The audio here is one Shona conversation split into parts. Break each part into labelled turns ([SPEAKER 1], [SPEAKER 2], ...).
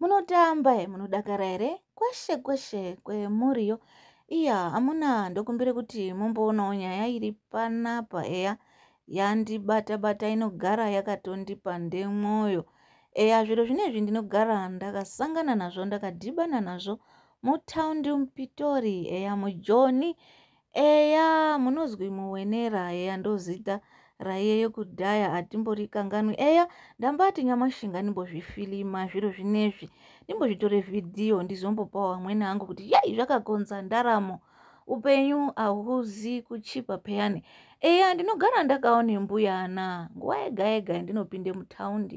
[SPEAKER 1] munotamba e munodakara here kweshe kweshe kwemuriyo iya amuna ndokumbire kuti mumboonawo nyaya iri panapa eya yandibata bata inogara yakatondipa ndemwoyo eya zviro zvinezvi ndinogara ndakasangana nazvo ndakadhibana nazvo mutaundi mupitori eya mujoni Eya munozwi muwenera eya ndozita raiye yekudhaya hatimborikanganwi eya ndambati nyamashi nganimbozvifilima zviro zvinezvi ndimbozvitore vhidhiyo ndizombopa wamwene angu kuti yai zvakakonza ndaramo upenyu ahuzi kuchipa peyani eya ndinogara ndakaone mbuyana nguva yega yega ndinopinde mutaundi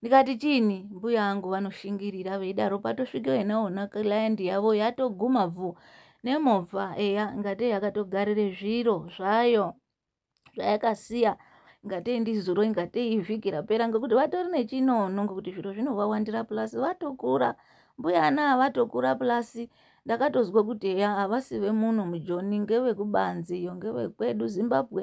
[SPEAKER 1] ndikati chini mbuya angu vanoshingirira veidaro patosvika inaona client yavo yatoguma bvu nemovha eya ngatei yakatogarire zviro zvayo zvayakasiya ngatei ndizuro ingatei ivhiki rapera ngekuti vatori nechinono ngekuti zviro zvinovawandira pulasi vatokura mbuya ana avatokura pulasi ndakatozwa kuti eya havasi vemuno mujoni ngevekubanze iyo ngevekwedu zimbabwe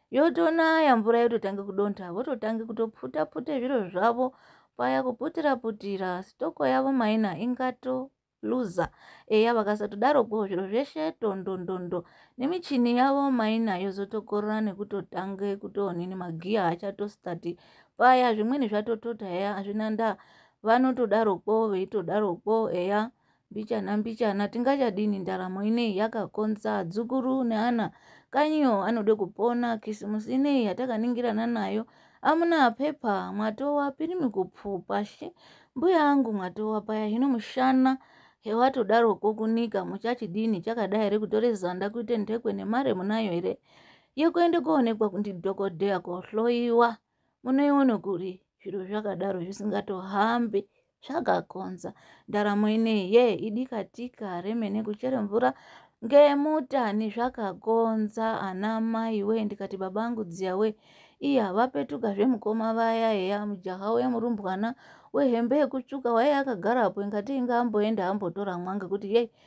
[SPEAKER 1] yotonaya mvura yototanga kudonta vototanga kutoputa pute zviro zvavo paya kuputira putira stoko yavo maina ingato luza eya vakasatodaropo zviro zveshe tondondondo nemichini yavo maina yozotokorora nekutotange kutoonini magiya achatostati paya zvimweni zvatotota eya hazvina ndaa vanotodaropo veitodaropo eya eh, mbichana mbichana tingachadini ndaramo ineyi yakakonza adzukuru neana kanyiyo anode kupona kisimusi ineyi yatakaningirana nayo amuna pepa mwatowa pirimi kupfupa she mbuya angu mwatowa paya hino mushana hewatodaroko kunika muchachidini chakadai here kutore zanda kuite ndhekwe nemare munayo here yekuende koonekwa ndidhokodheya kohloyiwa ko munoiona kuri zviro zvakadaro zvisingatohambe zvakakonza ndaramo inei ye idikatika remene kuchere mvura ngemuta nezvakakonza ana mai we ndikati babangu dziya we iya vapetuka zvemukoma vaya heya mujaha uya murumbwana wehembe yekutsvuka waiye akagarapo ingati inga amboenda ambotora mwa ngekuti yei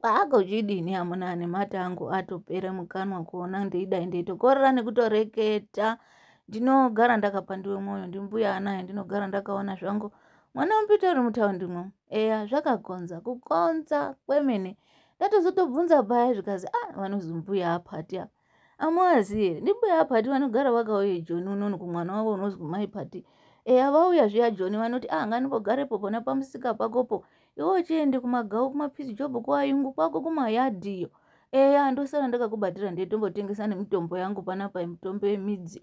[SPEAKER 1] Kwako chidini amuna ane mate angu atopere mukanwa kuona ndeidai ndeitokorera nekutoreketa ndinogara ndakapandiwe mwoyo ndimbuya anaye ndinogara ndakaona zvangu mwana wamupita uri mutaundimwo eya zvakakonza kukonza kwemene ndatozotobvunza paya zvikazi a ah, vanozumbuya apati apa amuaziye ndimbuya apati vanogara vakauye joni unono kumwana wavo unonzi kumai pati eya vauya zviya joni vanoti ah nganimbogarepo pona pamusika pakopo iwe uchiende kumagau kumapisi job kuayungu kwako kumayadhiyo eya ndosara ndakakubatira ndetombotengesa nemitombo yangu panapa mitombo yemidzi